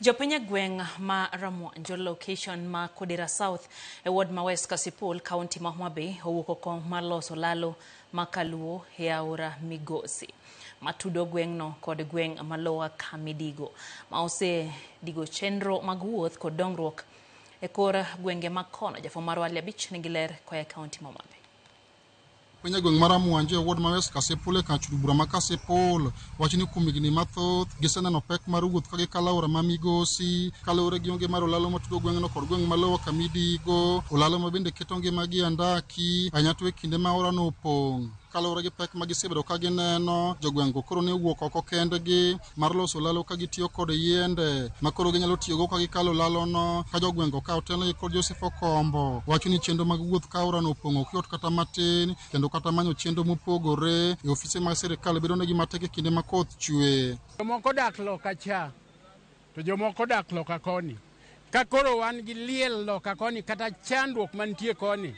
Jopiny e gweng' ma Ramwanjo location ma Kodera South e ward ma West Kasipul, kaunti ma Homa Bay owuok okong' mar loso lalo ma kaluo e aora Migosi ma tudo gweng'no kod gweng' ma Lower Kamidigo ma ose digo chenro mag wuoth kod dongruok e kor gwenge mag kono. Jafwambo marwa Ali Abich nigi ler koya e kaunti ma Homa Bay. Piny e gweng' mar Amwanje e ward ma West Kasipul e kach od bura ma Kasipul wacho ni kuom higni mathoth giseneno pek mar wuoth ka gikalo aora ma Migosi kaluwore gi onge mar olalo matudo gweng'no kod gweng' ma lowo kama idigo olalo ma bende keto ngimagi e andaki ahinya to e kinde ma aorano opong'. Kaluwore gi pek ma gisebedo ka gineno, jogweng'go koro ne owuok oko kendgi mar loso lalo ka gitiyo kod yiende ma koro ginyalo tiyogo ka gikalo lalono ka jogweng'go ka otelnegi kod Joseph Okombo wacho ni chenro mag wuoth ka aorano opong'o ok yot kata matin kendo kata manyo chenro mopogore e ofise mag sirkal bedonegi matek e kinde ma koth chwe. Jomoko dak loka cha to jomoko dak loka koni. Ka koro wan gi liel loka koni kata chandruok mantie koni,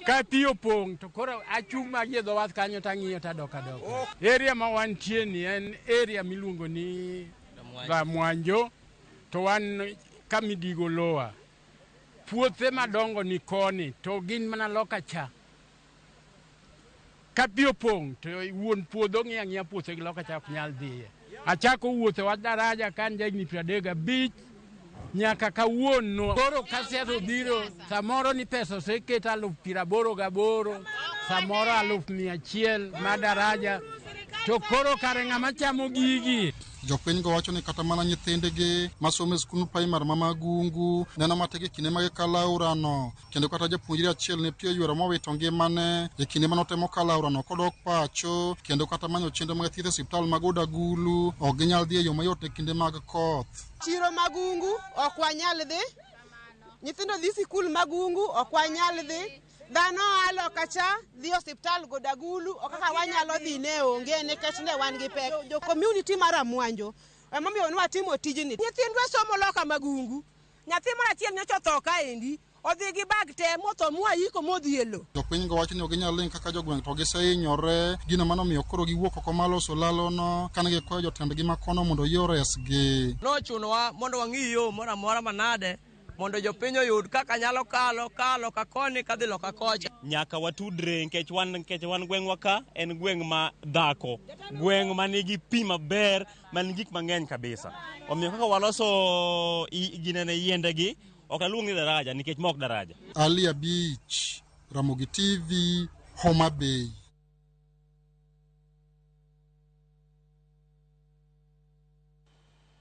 ka pi opong' to koro achung' magi e dho wath kanyo to ang'iyo to adok adoka. Area ma wantie ni en area miluongo ni Dhamwanjo to wan ka Midigo Lower. Puothe madongo ni koni to gin mana loka cha. Ka pi opong' to wuon puodho ng'iyo ang'iya puothe gi loka cha ok nyal dhiye. Achako wuotho wach daraja ka an jahigni piero adek gabich nyaka kawuono. Koro ka siasa obiro, samoro ni pesa oseket aluf piero aboro gaboro, samoro aluf mia achiel ma daraja, to koro kare ng'ama chamo gigi? Jopinygo wacho ni kata mana nyithindgi masomo e skund primar ma Magungu neno matek e kinde ma gikalo aorano. kendo kata japuonjre achiel ne pio ywero mowito ngimane e kinde mane otemo kalo aorano kodok pacho kendo kata manyo chenro mag thieth e osiptal mag Odagulu ok ginyal dhi e yo mayot e kinde mag koth. Chiro mag ungu ok wanyal dhi, nyithindo dhi sikul mag ungu ok wanyal dhi, dhano alo kacha dhi osiptal Godagulu ok kaka wanyalo dhi ne onge nikech ne wan gi pek. Jo community mar Amwanjo emomiyo ne watimo tijni. Nyithindwa somo loka mag ungu Nyathi moro achiel nyocha otho kaendi, odhi gi bag te motho mwayiko modhi e lo. Jopinygo wacho ni ok ginyal ling' kaka jogweng' to gisehinyore. Gino mano omiyo koro giwuok oko ma loso lalono kane gikwayo jotendgi ma kono mondo oyie oresgi. Nochunowa mondo wang'i yo moro amora manade mondo jopiny oyud kaka nyalo kalo ka loka koni kadhi loka kocha. Nyaka watudre nikech wan nikech wan gweng'wa ka en gweng' ma dhako, gweng' manigi pi maber. man gik mang'eny kabisa. Omiyo kaka waloso ginene yiendegi ok aluong ni daraja nikech mok daraja. Ali Abich, Ramogi TV, Homa Bay.